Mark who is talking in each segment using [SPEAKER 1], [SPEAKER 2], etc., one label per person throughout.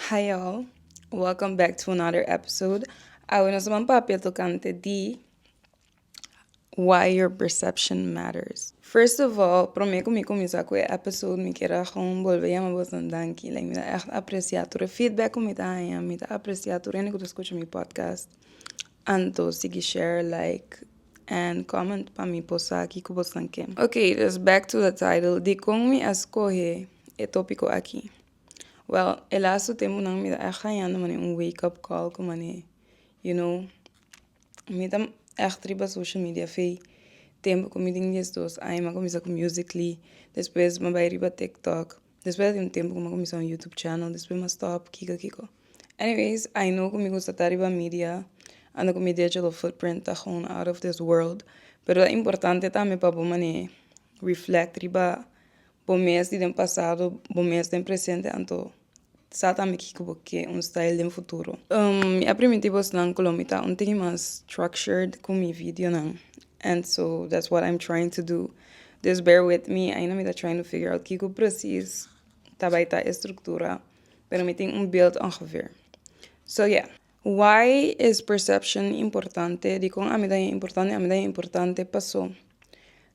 [SPEAKER 1] Hi y'all, welcome back to another episode. Awe nos man papia tocante di why your perception matters. First of all, prome ku mi kuminsa ku e episode, mi kier a gewoon bolbe yama bos un danki. Like, mi ta echt aprecia tur e feedback ku mi ta haña, mi ta aprecia tur hende ku ta skucha mi podcast. Anto sigui share, like, and comment pa mi por sa kiko bo stan ke. Ok, dus back to the title, dikon mi a skohe e topiko aki? Well, e lastu tempunan mi ta ègt hañando mane un wake up call ku mane, you know, mi ta ègt riba social media fe tempu ku mi tin diesdos aña mi a kuminsá ku musically, despues mi a bai riba tiktok, Despues di un tempo cu mi a cuminsa un YouTube channel despues mi a stop kico kico anyways I know cu mi gusta ta riba media anto cu mi digital footprint ta gewoon out of this world pero ta importante tambe pa bo mane reflect riba bo mes di den pasado bo mes den presente anto Sa tambe kiko ku bo ke un style den futuro. Mi a primiti bosnan ku lo mi ta un tiki mas structured ku mi videonan and so that's what I'm trying to do. Dus bear with me, ainda mi ta trying to figure out kiko presis ta bai ta e struktura, pero mi tin un beeld ongeveer. So yeah, why is perception importante? Dikon ami ta importante? Ami ta importante paso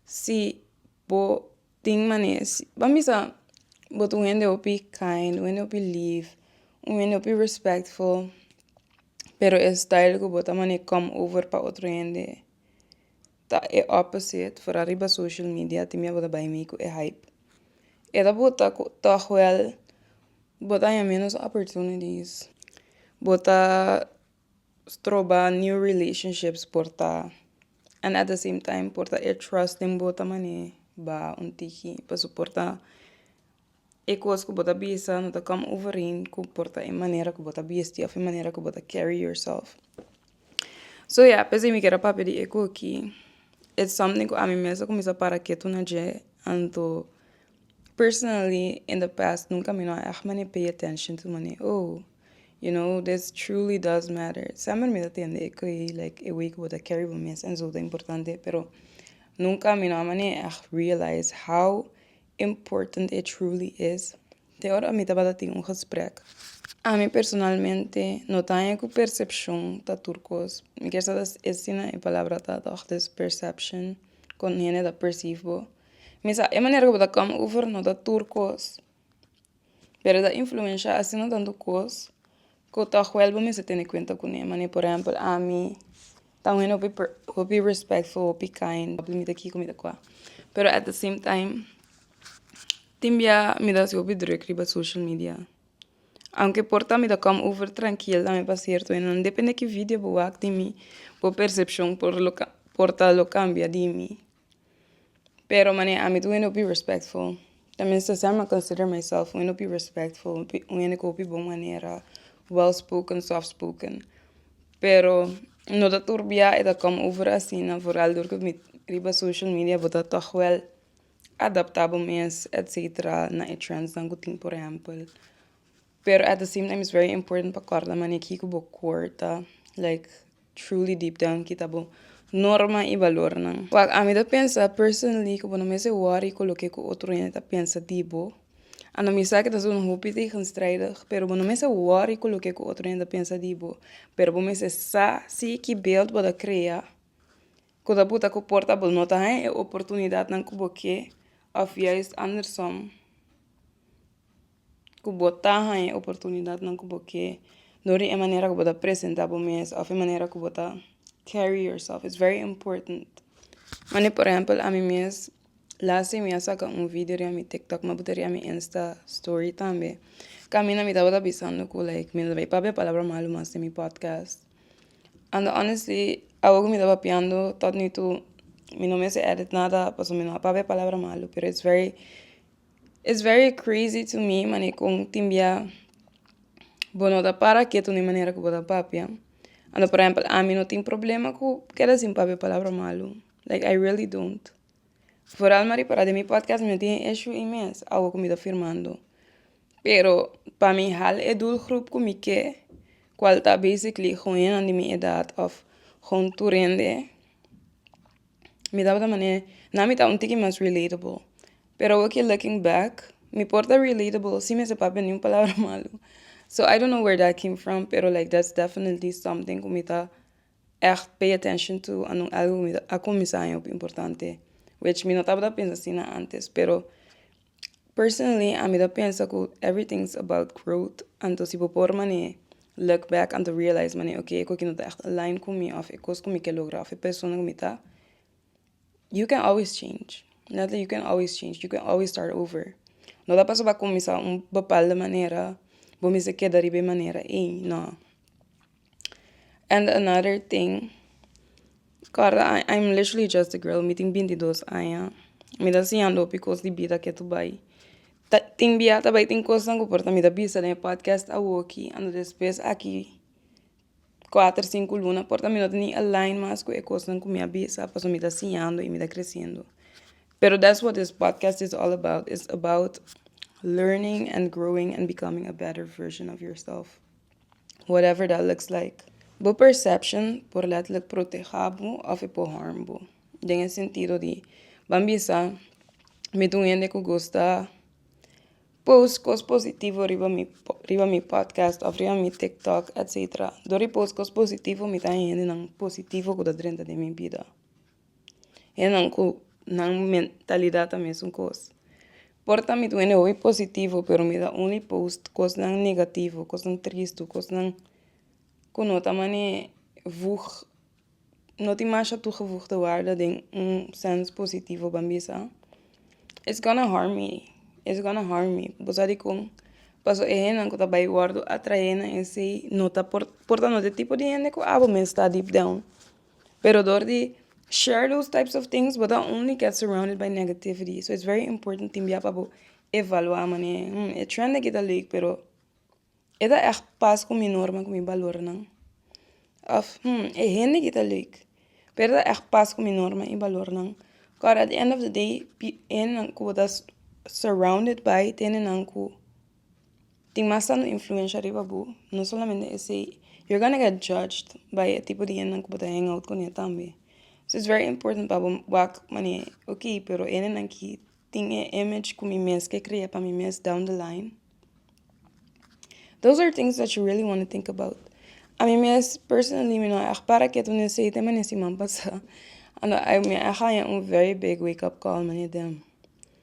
[SPEAKER 1] si bo Tin manes. Bo a bisa bo ta un hende hopi kind, un hende hopi lief, un hende hopi respectful, pero e style ku bo ta manier come over pa otro hende ta e opposite, for ariba social media tin mia bo ta bai mi ku e hype. E ta bota ku tòg wèl bo ta haña menos opportunities, bo ta stroba new relationships por ta. and at the same time por ta e trust den bo ta mane ba un tiki paso por ta e cos cu bo ta bisa no ta come overeen cu por ta e manera cu bo ta bisti of e manera cu bo ta carry yourself so ya p'esei mi quier a papia di e coki it's something cu ami mes a cuminsa para ketu na dje anto Personally in the past nunca mi no a echt mane pay attention to mane oh you know this truly does matter semper mi ta tende e koe like e way ku bo ta carry bo mes en su ta importante pero nunca mi no a mane echt realize how important it truly is te ora mi tabata tin un gesprek ami personalmente no ta haña ku percepcion ta tur kos mi kier sa ta asina e palabra ta tog this perception kon hende ta perceive bo. Mi sa e manera ku bo ta come over no ta tur kos pero ta influencia asina tantu kos ku ta huel bo mester tene kuenta kune manera por ehempel ami ta wen hopi per hopi respectful hopi kind mi ta ki ku mi ta kua pero at de same time tin bia mi ta hasi hopi druk riba social media aunke por ta mi ta come over trankil dame pa cierto hende nan depende ki video bo wak di mi bo percepcion por lo por ta lo cambia di mi. Pero mané ami ta wende hopi respectful. Ta mester ser mi a consider myself wende hopi respectful, un hende cu hopi bon manera, well spoken, soft spoken. Pero no ta tur bia e ta come over asina vooral dor cu mi riba social media bo ta tog wel adapta bo mes etcetera na e trends nan cu tin por ehempel. Pero at the same time is very important pa corda mané kico bo cor ta like. Truly deep down kita bo norma y valornan. Wak ami ta pensa personally cu bo no mester worry cu loke cu otro hende ta pensa di bo. A no misa cu ta su un hopi tegenstrijdig, pero bo no mester worry cu loke cu otro hende ta pensa di bo, pero bo mester sa si ki beeld bo ta crea cu ta puta cu porta bo no ta haña e oportunidadnan cu bo ke of juist andersom. ku bo ta haña e oportunidatnan ku bo ke dor di e manera ku bo ta presenta bo mes òf e manera ku bo ta carry yourself is very important wende por ehempel ami mes las day mi a saka un video riba mi tiktok ma bo ta riba mi insta story tambe kaminda mi tabata pensando ku like mi lo bai papia palabra malu mas den mi podcast and honestly awor ku mi ta papiando tot mi tu mi no mester edit nada pasobra mi no a papia palabra malu pero is very It's very crazy to me mane kon tin bia bo no ta para ketu na e manera ku bo ta papia. Ando por ehempel ami no tin problema ku keda sin papia palabra malu like I really don't foral mari parat den mi podcast mi no tin e ishu ei mes awo ku mi ta firmando pero pa mi hal e doelgroep ku mi ke kual ta basically hoennan di mi edad of hon tur hende. mi tabata manera nan mi ta un tiki mas relatable pero awor ki looking back mi por ta relatable sin mester papia niun palabra malo so I don't know where that came from pero like that's definitely something ku mi ta echt pay attention to anon algo ku mi ta a kuminsá importante which mi no tabata pensa asina antes pero Personally ami ta pensa ku everything is about growth anto si bo por mane look back anto realize mane ok e koki no ta ègt align ku mi òf e kos ku mi ke logra òf e persona ku mi ta you can always change na ta you can always change you can always start over no ta pasobra bo kuminsá un bepalde manera bo mester keda riba e manera ei no. And another thing corda I I'm literally just a girl mi tin binti dos aña mi ta siñando hopi cos di bida ke ta bai ta tin bia ta bai tin cosnan ku por ta mi ta bisa den e podcast awoki and despues aki cuater cinco luna por ta mi no ta ni align mas ku e cosnan ku mi a bisa pasobra mi ta siñando i mi ta creciendo pero that's what this podcast is all about it's about learning and growing and becoming a better version of yourself. whatever that looks like. Bo perception por letterlijk proteha bo of e por harm bo. Den e sentido di ban bisa mi ta un hende ku gusta post kos positivo riba mi riba mi podcast of riba mi tiktok etc. Dor di post kos positivo mi ta haña hendenan positivo ku ta drenta den mi bida. Esnan ku nan mentalidad ta mesun kos. Por ta mi dueño hoy positivo pero mi ta only post kosnan negativo, kosnan tristu, kosnan ku no ta mane vùgè, no tin masha tuge vùgè te warda den un sèns positivo ban bisa. It's gonna harm me, it's gonna harm me. Bo sa dikon? Paso e hennan ku ta bai wòrdu atraé na esei no ta por, por ta no te tipo di hende ku abo men stá deep down. Pero dor di share those types of things bo ta only get surrounded by negativity so it's very important tin bia pa bo evalua manera hmm e trend aki ta leuk pero e ta echt pas ku mi norma ku mi balornan of hmm e hende aki ta leuk pero e ta echt pas ku mi norma i balornan kos at the end of the day hende ku bo ta surrounded by ta hende nan ku Tin mas tando influencia riba bo, no solamente esey, you're gonna get judged by e tipo di hendenan cu bo ta hang out cun'e tambe. So it's very important pa bo wak mane, ok, pero e hendenan aki tin e image cu mi mes ke crea pa mi mes down the line. Those are things that you really wanna think about. A mi mes, personally, mi no a echt para kiet wen esey tema den siman pasa. Mi a echt haña un very big wake up call mane den.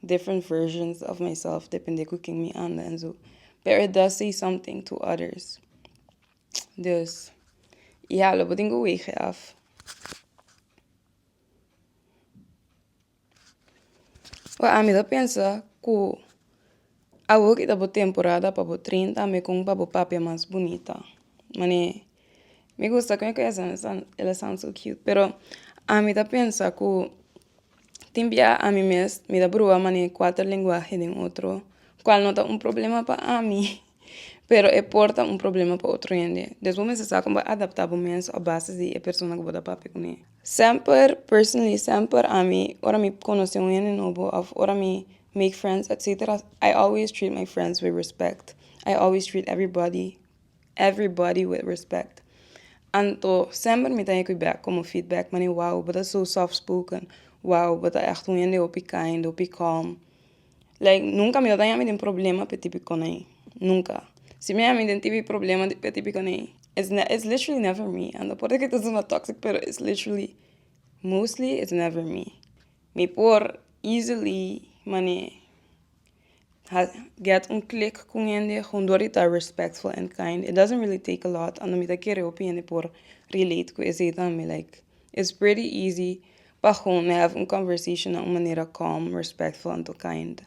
[SPEAKER 1] Different versions of myself, depende cu ken mi anda en su. Pero it does say something to others. Dus, i halo bo den cu wege af. Well, ami ta pensa cu. Awor ki ta bo temporada pa bo trin tambe kon pa bo papia mas bunita mane mi gusta kue kue esnan esan el esan so cute pero ami ta pensa ku tin bia ami mes mi ta bruba mane kuater lenguahe den otro kual no ta un problema pa ami pero e por ta un problema pa otro hende despues bo mester sa kon bo adapta bo mes a base di e persona ku bo ta papia kuné. Semper personally semper ami ora mi conoce un hende nobo of ora mi make friends etcetera I always treat my friends with respect I always treat everybody everybody with respect anto semper mi ta yek cu back como feedback man e wow bo ta so soft spoken wow bo ta echt un hende hopi kind hopi calm. Like nunca mi tabaña mi den problema pe tipi konai nunca si mi ami den tipi problema pe tipi konai is ne is literally never me ando por di kitos una toxic pero is literally mostly is never me mi por easily mane ha get un click con hende con dor di ta respectful and kind it doesn't really take a lot ando mi ta kere hopi hende por relate cu esey tambe like It's pretty easy pa hoon have un conversation na un manera calm, respectful anto kind.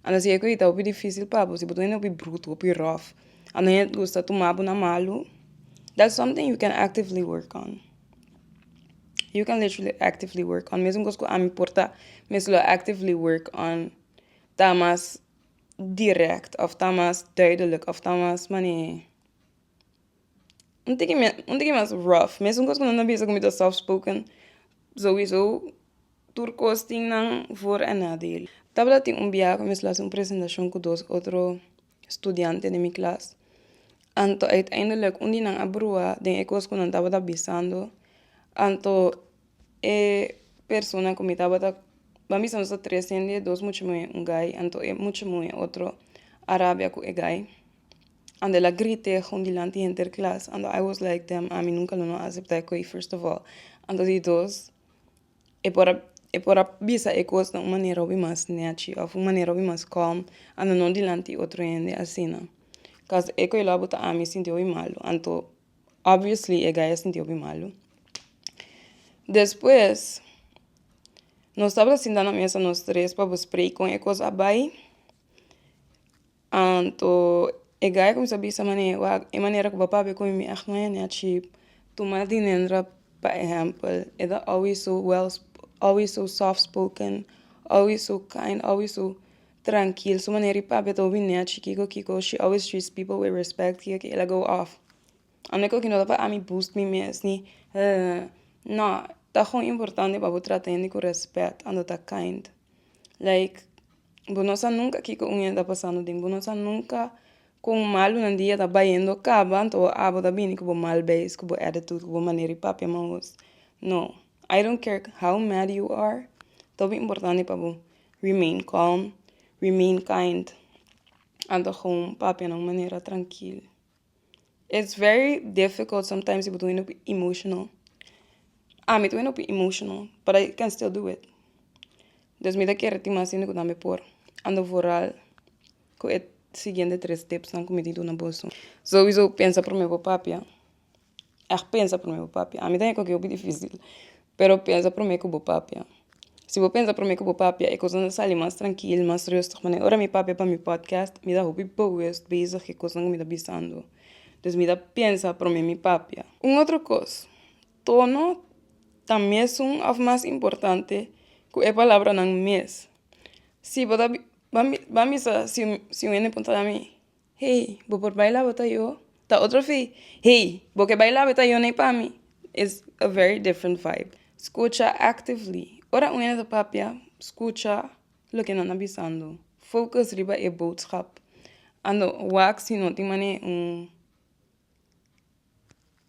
[SPEAKER 1] Anda si e koi ta hopi difícil pa bo, si bo ta hende hopi bruto, hopi rough, anda hende gusta tuma bo na malu, that's something you can actively work on. You can literally actively work on. Mesmo cos cu ami por ta, mi a lo actively work on ta mas direct of ta mas duidelijk of ta mas mane. Untikin mes untikin mes rough mesun cos cu nan ta bisa cu mi ta soft spoken sowiso tur cos tin nan for a nadel tabata tin un bia cu mi a haci un presentacion cu dos otro studiante den mi klas anto uiteindelik un di nan a bruha den e cos cu nan tabata bisando anto e persona cu mi tabata nan bisa nos tres hende dos muchume un guy anto e muchume otro a rabia cu e guy. ando el a grita e agun dilanti e henter klas ando I was like damn ami nunka lo no a aseptá e koe first of all ando di dos e por a e por a bisa e kos na un manera hopi mas nèchi òf un manera hopi mas kòm ando no dilanti e otro hende asina kos e koe lo a botá ami sinti hopi malu anto obviously e guy a sinti hopi malu despues nos tabata sintá na mesa nos tres pa bo spray kon e kos a bai Anto e guy a cuminsa bisa mane wak e manera cu papá a bay cu mi mi ach no hende a chip tuma dinendra pa ehempel e ta always so well always so soft spoken always so kind always so trankil su manera i pape ta wine a chi kiko kiko she always treats people with respect kiko kiko el a go off a no e kos ki no ta pa ami boost mi mes ni no ta hopi importante pa bo trata hende cu respect anto ta kind like bo no sa nunca kiko un hende ta pasando ding bo no sa nunca con malunan di e ta bayendo caba anto bo abo ta bini cu bo mal bes cu bo attitude cu bo manera di papia maos no I don't care how mad you are tob importante pa bo remain calm remain kind anto gong papia na un manera trankil. It's very difficult sometimes ibo ta wini hopi emotional. Ami ta wini hopi emotional but I can still do it. Dus mi ta kere tin mas hende ku ta mi por ando voral ku e siguiente tres tipsnan ku mi di duna boso. Sowieso pensa prome bo papia. Yak pensa prome bo papia. Ami tambe kokié hopi difisil. Pero pensa prome ku bo papia. Si bo pensa prome ku bo papia, e kosnan ta sali mas trankil, mas rustig. Manera ora mi papia pa mi podcast, mi ta hopi bogus bezig ku e kosnan ku mi ta bisando. Dus mi ta pensa prome mi papia. Un otro kos, tono ta mesun òf mas importante ku e palabranan mes. Si bo ta, ban bisa si un hende puntra mi. Hey, bo por bai labe ta yo? Ta otro fi, Hey, bo ke bai labe ta yo nei pa mi? Is a very different vibe. Scucha actively. Ora un hende ta papia, scucha loke nan a bisando. Focus riba e boodschap. Ando wak si no tin manera un.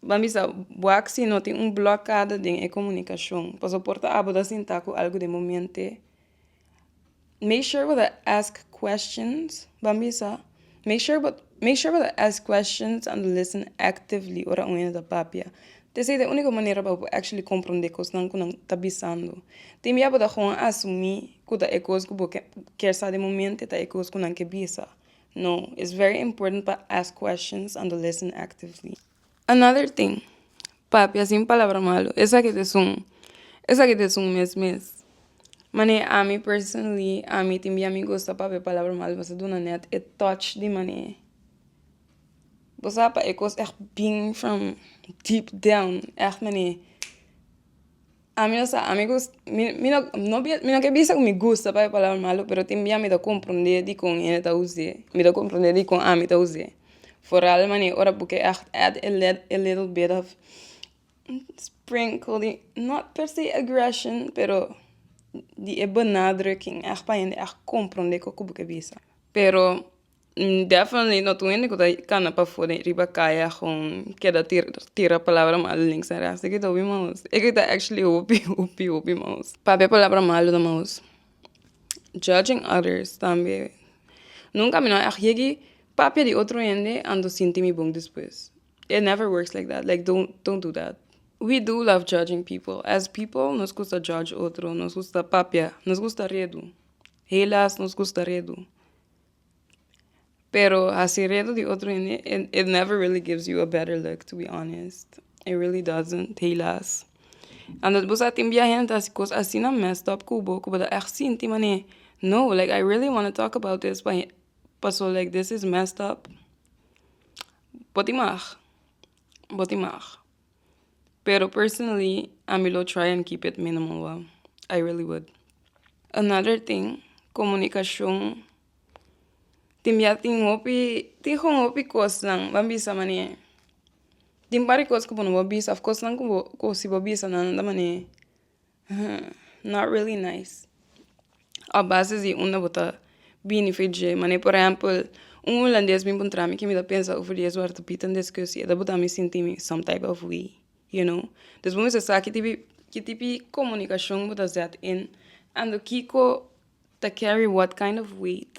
[SPEAKER 1] Bo a bisa bo a aksi no tin un blòkada den e komunikashon, pasobra bo por ta abo ta sinta ku algu den bo mente, make sure bo ta ask questions, bo a bisa make sure make sure bo ta ask questions and listen actively ora un hende ta papia, ta esei ta e único manera pa bo actually komprende kosnan ku nan ta bisando, tin bia bo ta hon asumí ku ta e kos ku bo ke kèr sa den bo mente ta e kos ku nan ke bisa. No, it's very important pa ask questions and to listen actively. Another thing, Papi a sin palabra malo, esaki ta esun, esaki ta esun mes mes. Mane ami personally, ami tin bia mi gusta Papi a palabra malo mas a duna net e touch di mane bo sa pa e cos echt bing from deep down echt mane. Ami no sa ami gust mi mi no no bias mi no ke bisa ku mi gusta paya palabra malu pero tin bia mi ta komprende dikon hende ta use mi ta komprende dikon ami ta use foral mane ora bo ke ègt èd e led e lidel bit of sprinkel di nòt pèrsè aggrèshon pero di e benadrukking ègt pa hende ègt komprende koko bo ta bisa pero definitely no tin hende ku ta kana pafua den riba kaya a kon keda tira tira palabra malo links en rechts eke ta hopi maus eke ta actually hopi hopi hopi maus papia palabra malo na maus judging others tambe nunca mi no a yeki papia di otro hende anto sinti mi bon despues it never works like that like don't don't do that we do love judging people as people nos gusta judge otro nos gusta papia nos gusta redu helas nos gusta redu. Pero hasi reto di otro hende it, it never really gives you a better look to be honest. It really doesn't, helaas. And dat bo sa tin bia hende ta hasi cos asina messed up cu bo cu bo ta echt sinti mane no like I really wanna talk about this pa paso like this is messed up. Bo ti mag, bo ti mag. Pero personally ami lo try and keep it minimal wou. I really would. Another thing, komunikashon. Tin bia tin hopi, tin hon hopi kosnan ban bisa mane. Tin par di kos ku bo no bor bisa of kosnan ku bo ku si bo bisa nan nan ta mane. not really nice a bases di unda bo ta bini fen dje mane por ehempel un hulandes bin puntra mi ki mi ta pensa uf di e suerte pita discusi e ta bota mi sinti mi some type of way you know dus bo mester sa kiti ki tipi comunicashon bo ta zet in ando kiko ta carry what kind of weight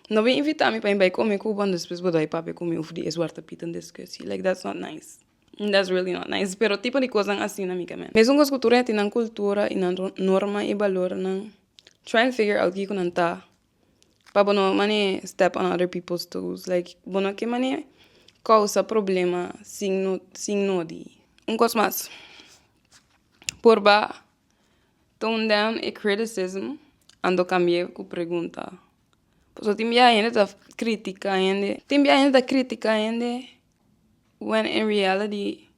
[SPEAKER 1] no be invita mi pa in bai come cu bo and despues bo dai papia cu mi uf di e suerte pita discusi like that's not nice. That's really not nice pero tipo di cosnan asina mi caminda. Mesun cos cu tur hende tin nan cultura y nan norma y balornan try and figure out kico nan ta pa bo no mane step on other people's toes like bo no ke mane causa problema sin no sin nodi. Un cos mas por ba tone down e criticism ando cambie cu pregunta pasobra tin biaha hende ta critica hende tin biaha hende ta critica hende When in reality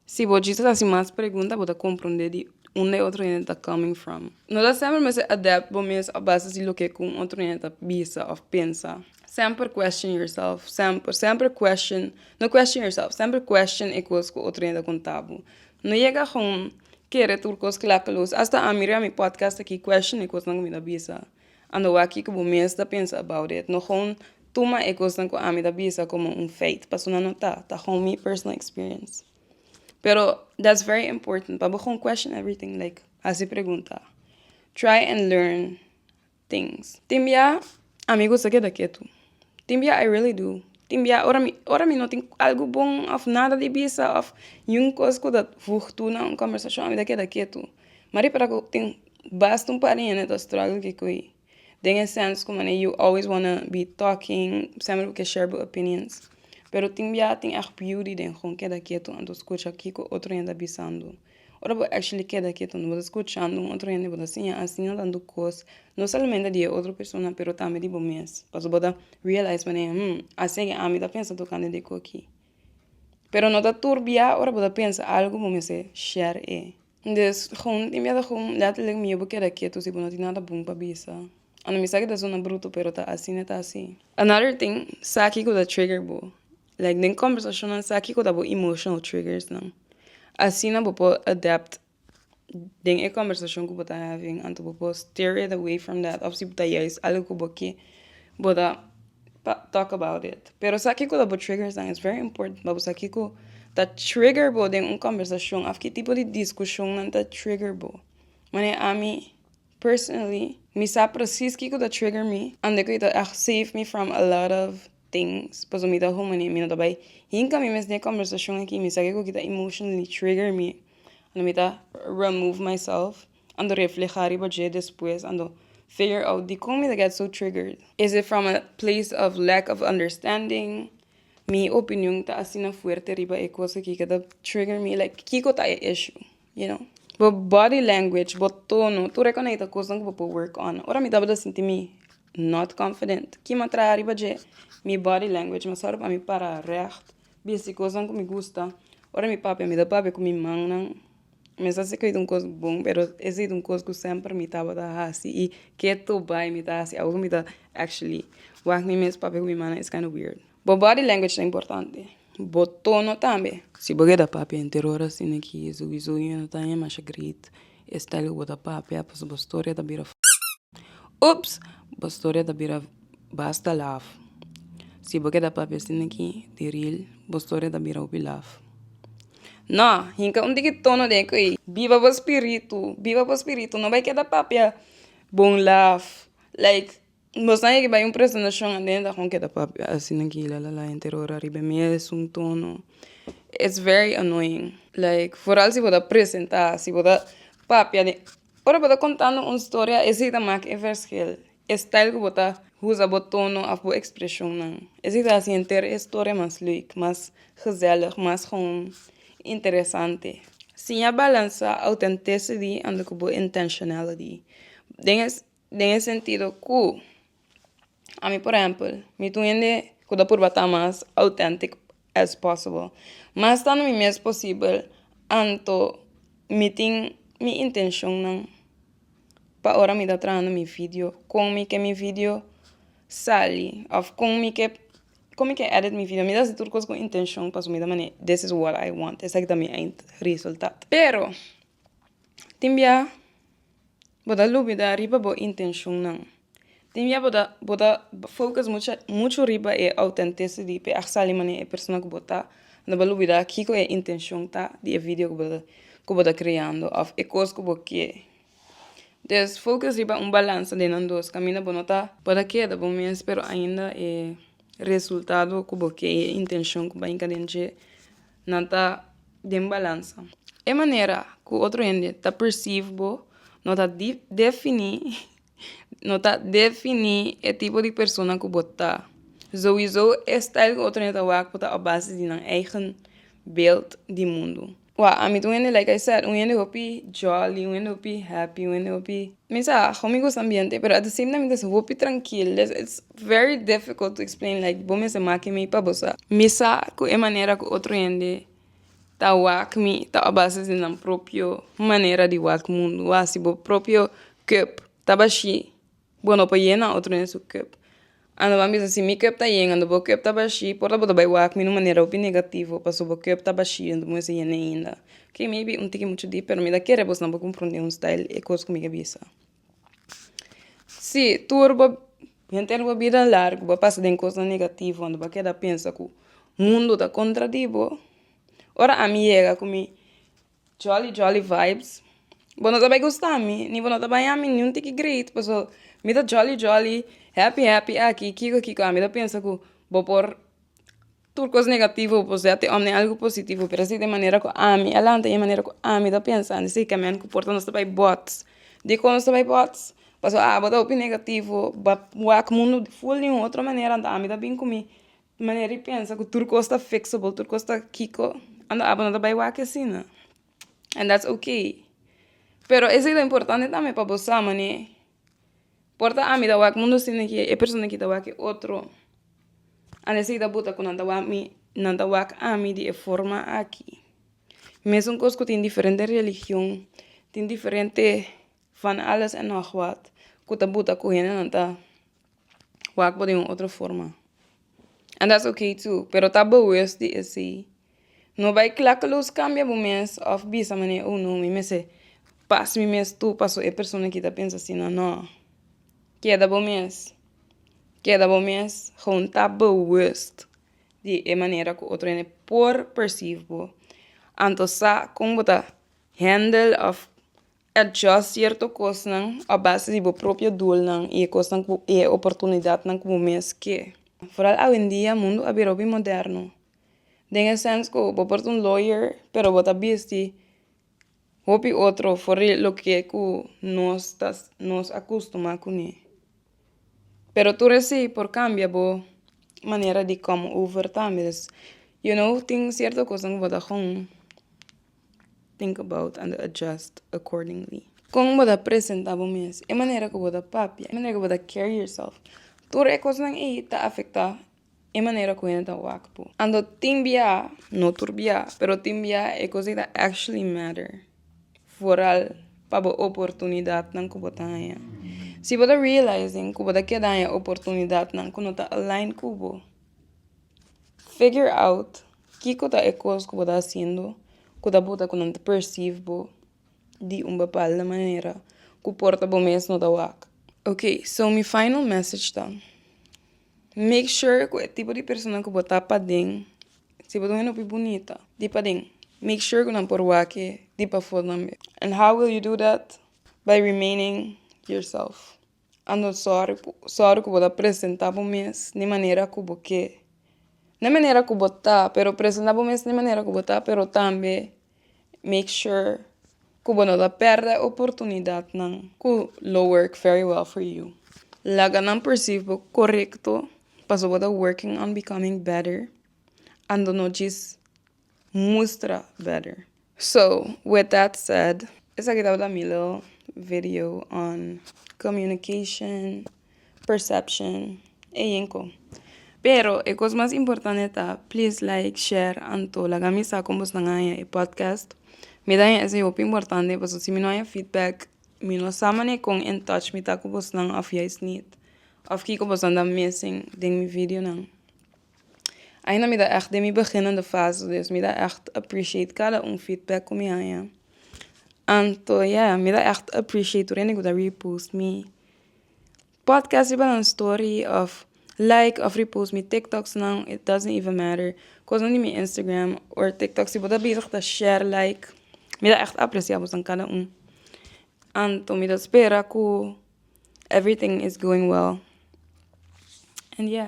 [SPEAKER 1] si bo djis hasi mas pregunta bo ta compronde di unda e otro hende ta coming from. No ta semper mester adapt bo mes a base di loke cu un otro hende ta bisa of pensa. Semper question yourself, semper, semper question, no question yourself, semper question e cos cu otro hende ta conta bo. No yega aho kere tur cos clakeloos. Hasta ami riba mi podcast aki question e cosnan cu mi ta bisa. A no wak kiko bo mes ta pensa about it. No gewoon tuma e kosnan ku ami ta bisa komo un feit, paso nan no ta, ta gewoon mi personal experience. Pero that's very important pa bo gewoon question everything like hasi pregunta. Try and learn things. Tin bia ami gusta keda ketu. Tin bia I really do tin bia ora mi ora mi no tin algo bon of nada di bisa of yun kos ku ta wugt tu na un kòmbersashon ami ta keda ketu mari para ku tin basta un par di hende ta struggle kikui den e sèns ku mane you always wanna be talking sèmber bo ke share bo opinions pero tin bia tin èg beauty den gon keda ketu anto skucha kiko otro hende ta bisando. Ora bo actually keda kiet unda bo ta scuchando un otro hende bo ta siña asina tanto cos no solamente di e otro persona pero tambe di bo mes pasobra bo ta realize pané hmm aseki ami ta pensa tocante de cochi pero no ta tur bia ora bo ta pensa algo bo mester share e des gun tin biaha gun letterlijk mi yo bo keda kieto si bo no tin nada bun pa bisa and mi sa ke ta sona bruto pero ta asina ta asi another tin sa kico ta trigger bo Like den conversacionnan sa kico ta bo emotional triggersnan. Asina bo por adapt den e conversacion cu bo ta having anto bo por steer it away from that of si ta juist algo cu bo ke bo ta talk about it. Pero sa kico ta bo triggersnan is very important pa bo sa kico ta trigger bo den un conversacion of ki tipo di discusionnan ta trigger bo. Manera ami personally mi sa precies kico ta trigger mi and kico ta save me from a lot of. tin paso mi ta human y mi no ta bay hinca mi mes den e conversacion aki mi sa kico ki ta emotionally trigger mi ando mi ta remove myself ando refleha riba dje despues ando figure out dicon mi ta get so triggered is it from a place of lack of understanding mi opinion ta asina fuerte riba e cosa aki ke ta trigger mi like kico ta e issue. you know bo body language bo tono tur e konei ta kosnan ku bo por work on ora mi tabata sinti mi not confident kin m'a traha riba dje mi body language mi a sòru pa mi para règt bisa di kosnan ku mi gusta ora mi papia mi ta papia ku mi mannan mesa si ku es un kos bon pero ese es un kos ku semper mi tabata hasi i ke to bai mi ta hasi awe ku mi ta actually wak mi mes papia ku mi mannan is kinda weird bo body language ta importante. Bo tono tambe. Si bo keda papia henter ora asina ki su wizuño no ta haña masha great e style ku bo ta papia pasobra bo storia ta bira ups bo storia ta bira basta laf si bo keda papia asina ki di real bo storia ta bira hopi laf no hinka un tiki tono den ko'i biba bo spiritu biba bo spiritu no bai keda papia bon laf like. Bo sa yeke bai un presentacion adentro agon keda papia asi nan ki la la la enter ora ariba mi es un tono it's very annoying like foral si bo ta presenta si bo ta papia den ora bo ta contando un storia ese ta mak e verschil e style ku bo ta usa bo tono of bo expresionnan ese ta hasi enter e storia mas leuk mas gezellig mas gon interesante si a balansa authenticity and ku bo intentionality den. Den e sentido ku, ami por ehèmpel, mi ta un hende ku ta purba ta mas autèntic as possible. Ma estando mi mes posibel, anto mi tin mi intenshonnan pa ora mi ta trahando mi video, kon mi ke mi video sali, òf kon mi ke kon mi ke èdit mi video. Mi ta hasi tur kos ku intenshon, pasobra mi ta manda des is wòt ai wònt, esaki ta mi eindresultat. Pero, tin bia bo ta lubida ariba bo intenshonnan tin bia bo ta bo ta focus mucha mucho riba e authenticity p'e a sali manera e persona ku bo ta bo ta lubida kiko e intenshon ta di e video ku bo ta ku bo ta kreando òf e kos ku bo ker des focus riba un balanse den nan dos kaminda bo no ta bo ta keda bo mes pero ainda e resultado ku bo ke i e intenshon ku bai den dje Nan ta den balansa. E manera ku otro hende ta perceive bo no ta definí no ta definí e tipo di persona ku bo ta. Souiso e style ku otro hende ta wak bo ta op base di nan eigen beeld di mundu. Wak, ami ta un hende like I said un hende hopi jolly un hende hopi happy un hende hopi. Mi sa how mi gusta ambiente pero at the same time es hopi trankil des it's very difficult to explain like bo mester make mi pa bo sa mi sa ku e manera ku otro hende ta wak mi ta a bases di nan propio manera di wak mundu wasi bo propio cup ta bashi bo no por yena otro hende su cup Ando bo a bisa si mi kep ta yen ando bo kep ta bashi por ta bo ta bai wak mi di un manera hopi negativo paso bo kep ta bashi ando bo mester yende ainda oke maybe un tiki muchu di pero mi ta kere bosnan bo comprende un style e cos cu mi ta bisa si tur bo henter bo bida largo bo pasa den cosnan negativo ando bo a keda pensa cu mundo ta contra di bo ora ami yega cu mi. Jolly jolly vibes Bo no ta bai gusta mi ni bo no ta baña mi niun tiki great paso mi ta jolly jolly happy happy aki kiko kiko a mi ta pensa ku bo por tur kos negativo bo por sea te omne algu positivo pero si de manera ku ami a lanta i de manera ku ami ta pensa di siki kamen ku por ta nos ta bai bots dikon nos ta bai bots paso a bo ta hopi negativo ba wak mundu full di un otro manera anto ami ta bin ku mi Manera i pensa ku tur kos ta fixable tur kos ta kiko ando apo no ta bai wak asina and that's okay pero esei ta importante tambe pa bo sa mane por ta ami ta wak mundo sin de ke e persona aki ta wak e otro and esei ta bota ku nan ta wak mi nan ta wak ami di e forma aki mesun kos ku tin diferente religion tin diferente van alles en nog wat ku ta buta ku hende nan ta wak bo den un otro forma and that's ok too pero ta bewust di esey no bai klakeloos cambia bo mes of bisa manera oh no mi mester pas mi mes too paso e persona aki ta pensa asina no keda bo mes keda bo mes gewoon ta bewust di e manera ku otro hende por perceive bo anto sa kon bo ta handle of Adjust sierto kosnan a base di bo propio dulnan i e kosnan ku i e oportunidatnan ku bo mes ke. Foral awendia mundu a bira hopi moderno, den e sens ku bo por ta un lawyer pero bo ta bisti hopi otro for di loke ku nos ta nos a kustumá kuné. Pero tur esei por kambia bo manera di come over tambe. Yo no tin sierto kosnan ku bo ta gou. think about and adjust accordingly. Kon bo ta presenta bo mes, e manera ku bo ta papia, e manera ku bo ta carry yourself, tur e kosnan ei ta afektá e manera ku hende ta wak bo. Anto tin biaha, no tur biaha, pero tin biaha e kos ei ta actually matter, foral pa bo oportunidatnan ku bo ta haña. Si bo ta realizing ku bo ta keda haña oportunidatnan ku no ta align ku bo, figure out Kiko ta e kos ku bo ta hasiendo ku ta bota ku nan ta persiv bo di un bapalda manera ku por ta bo mes no ta wak? Ok, so mi final message ta, make sure ku e tipo di persona ku bo ta paden, si bo ta un hende hopi bunita di paden, make sure ku nan por wak-e di pafó tambe. And how will you do that? By remaining yourself. A no sòru sòru ku bo ta presentá bo mes di manera ku bo ke. No e manera ku bo ta pero presentá bo mes di manera ku bo ta pero tambe make sure ku bo no ta pèrdè oportunidatnan ku lo work very well for you. Laga nan persif bo korekto pasobra bo ta working on becoming better ando no djis mustra better. So with that said esaki tabata mi little video on communication, perception e yenko. Pero e cos mas importante ta please like, share anto laga mi sa con boso nan a haña e podcast. Mi ta haña esey hopi importante paso si mi no haña feedback mi no sa mane con in touch mi ta cu boso nan of juist niet of kico boso anda missing den mi videonan. Aina mi ta ègt den mi beginnende fase dus mi ta ègt appreciate kada un feedback ku mi haña anto ya mi ta ègt appreciate tur esnan ku ta repost mi podcast riba nan story òf like òf repost mi tiktoknan it doesn't even matter kosnan di mi Instagram or tiktok si bo ta bezig ta share like mi ta ègt aprecia bosan kada un anto mi ta spera ku everything is going well and ya.